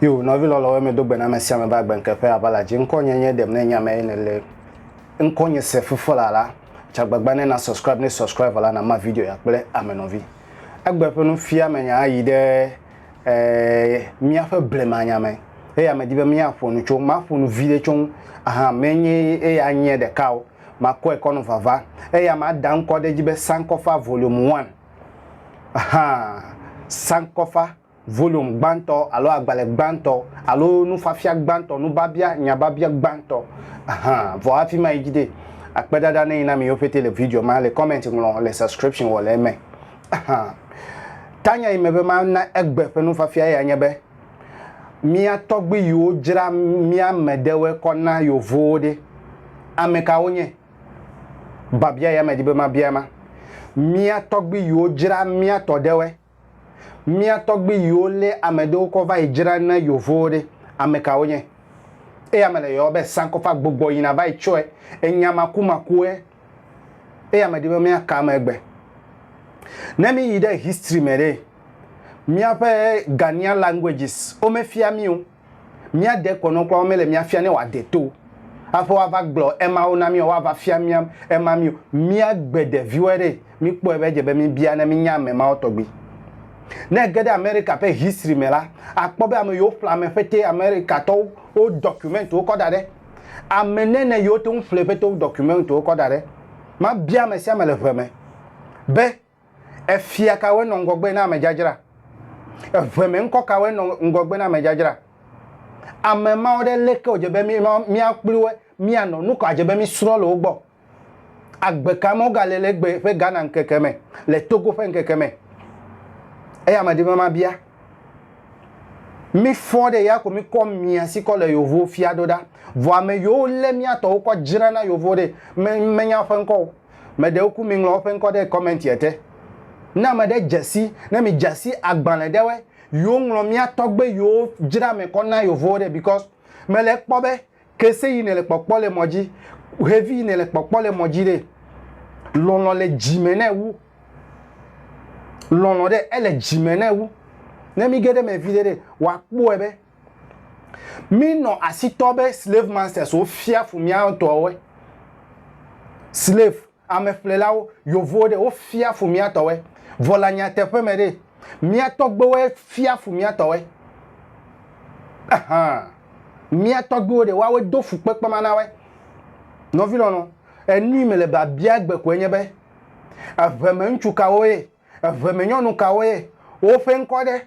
yo nɔvi lɔlɔwo me do gbe na mesia me ba gbe nke ƒe abala dzi ŋkɔ nye nye dem ne nya me ne le ŋkɔ nye se fufo la la tsagbagba ne na subscribe ne subscribe la na ma video ya kple ame nɔvi egbe ƒe nufia me nya ayi ɖe e míaƒe blemanya me eya medi be míaƒo nu tso maƒo nu viɖe tso ŋu ahan menye eya nye ɖeka o makɔe kɔ nɔ vava eya mada ŋkɔ ɖe edzi be sankɔfa volume one ahan sankɔfa volume gbãtɔ alo agbalẽ gbãtɔ alo nufiafia gbãtɔ nubabia nyababia gbãtɔ ahan vɔ hafi mayi dzi ɖe akpedada neyi na mi yo pete le video ma le comment ŋlɔ le subscription wɔ le eme Tanya yi me be mana egbe ƒe nufiafia ya nye be, Mía tɔgbui yiwo dzra mía me ɖewoe kɔ na Yovowo ɖe, ame ka wonye? Biabia ya medi be mabia ema. Mía tɔgbui yiwo dzra mía tɔ ɖewoe. Mía tɔgbui yiwo lé ame ɖewo kɔ va yi dzra na Yovowo ɖe, ame ka wonye? Eya mele yɔɔ be sankɔfagbogbɔ yina va yi tsɔe, enya makumakuwoe Eya medi be míaka eme egbe. Ne míyi ɖe history me ɖe, míaƒe Ghanaian languages womefia mí o. Mía dekɔnɔ kura womele mía fia ne wòade to hafi woava gblɔ emawo na mí alo woava fia mía ema mí o. Míagbe ɖeviwoe ɖe, míkpɔe be edze be míbia ne mínya ame mawo tɔgbi. Ne ège ɖe Amerika ƒe history me la, àkpɔ be ameyiwo ƒle ame ƒete Amerikatɔwo wo document wo kɔ da ɖe. Ame nɛnɛ yi wote ŋu ƒle ƒete wo dɔkumentuwo kɔ da ɖe. Mabia ame sia ame le ʋe me be, Efia kawoe nɔ ŋgɔgbe na amedzadzra? Eʋe me ŋkɔ kawoe nɔ ŋgɔgbe na amedzadzra? Ame mawo ɖe leke wòdze be míakpli wo mianɔ nu ka dze be mísrɔ̃ le wo gbɔ? Agbe ka me wogale le egbe ƒe Ghana ŋkeke me, le Togo ƒe ŋkeke me? Eye ame ɖe be mabia. Mi fɔ ɖe ya ko mi kɔ mia si kɔ le yovo fia ɖo ɖa. Vɔ ame yiwo lé mia tɔwo kɔ dzra na yovo ɖe, me, menya woƒe ŋkɔ o. Me ɖewo ku mi ŋlɔ woƒe ŋkɔ ɖe comment ye te. Ne ame ɖe dze si, ne mi dze si agbalẽ ɖewe yiwo ŋlɔ mia tɔgbe yiwo dzra me kɔ na yovowo ɖe because me le ekpɔ be Kese yi nèle kpɔkpɔ le mɔ dzi, xevi yi nèle kpɔkpɔ le mɔ dzi ɖe, lɔlɔ̃ le dzi me nɛ wu. Lɔlɔ̃ ɖe ele dzi me nɛ wu. Ne mí ge ɖe eme viɖe ɖe, wòakpɔe be mínɔ asi tɔ be slave masters wofia fu mía ŋutɔwoe. Slave. Ameƒlelawo, Yovowo ɖe, wofia fu mía tɔwoe, vɔ le anyateƒe me ɖe, mía tɔgbewoe fia fu mía tɔwoe. Ɛhã, mía tɔgbewo ɖe, woawoe do fukpekpe ma na woe. Nɔvi lɔlɔ, enui mele be abia gbe koe nye be, eʋemeŋutsu kawo ye, eʋemenyɔnu kawo ye woƒe ŋkɔ ɖe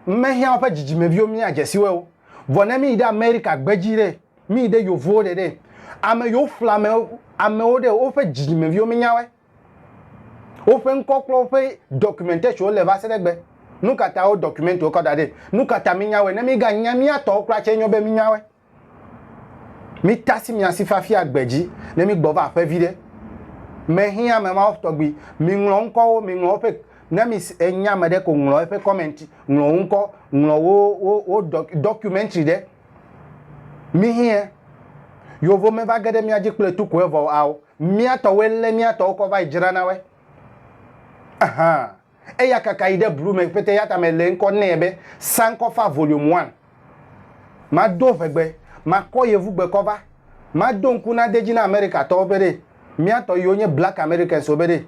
mehiã woƒe dzidzimeviwo míadze si wo o? Vɔ ne míyi ɖe Amerika gbedzi ɖe, Mi ɖe yovowo ɖe ɖe ame yo fla ame amewo ɖe woƒe dzidzimeviwo mi nyawe. Woƒe ŋkɔ kple woƒe documentation le va se ɖe gbe. Nu ka ta wo document wo kɔ da ɖe? Nu ka ta mi nyawe? Ne mi ga nya mia tɔwo kura tse nyo be mi nyawe. Mi tasi mia si fafi agbe dzi ne mi gbɔ va aƒe vi ɖe. Me hin ame mawo tɔgbi. Mi ŋlɔ ŋkɔ wo, mi ŋlɔ woƒe ne mi enya ame ɖe ko ŋlɔ eƒe comment, ŋlɔ wo ŋkɔ, ŋlɔ wo wo wo documentary ɖe. Mi hiɛ. Yovo me va ge ɖe mía dzi kple tu koe vɔ ao. Mía tɔwoe lé mía tɔwo kɔ va yi dzra na woe. Aha. Eya kaka yi ɖe blu me pete yata me le ŋkɔ nɛ be Sankofa Volume One. Ma do ŋegbe, ma kɔ yevugbe kɔ va. Ma do ŋku na de dzi na Amerika tɔwo be ɖe mía tɔ yiwo nye Black Americans wo be ɖe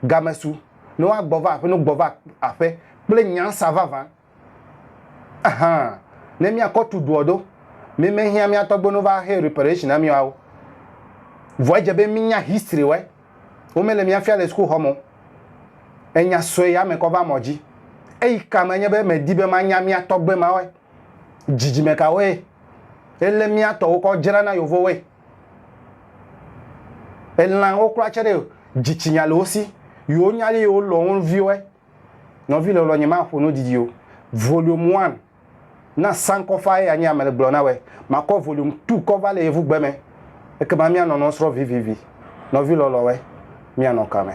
game su ne woa gbɔ va aƒe no gbɔ va aƒe kple nyansa vavã. Ahan, ne míakɔ tu doɔ do, mi mehiã mía tɔgbenu va xe reparation na mía o. Vɔ edze be mínya history wɛ. Wo mele mía fia le school xɔ me o. Enya sɔe ya me kɔ va mɔ dzi. Eyi ka me nye be me di be ma nya mía tɔgbe ma wɛ. Dzidzime ka woe? Ele mía tɔ wo kɔ dzra na yovo woe. Elan wo kura tse ɖe, dzi tsi nya le wo si. Yo nya li yo lɔ wo viwɛ. Nɔvi lɔlɔ nye maƒo nu didi o volume one na sankɔ faa ye anyi ame le gblɔ na wɛ makɔ volume two kɔ va le yevu gbe me ekema mia nɔ nɔ srɔ vivivi nɔvi lɔlɔ wɛ mia nɔ kame.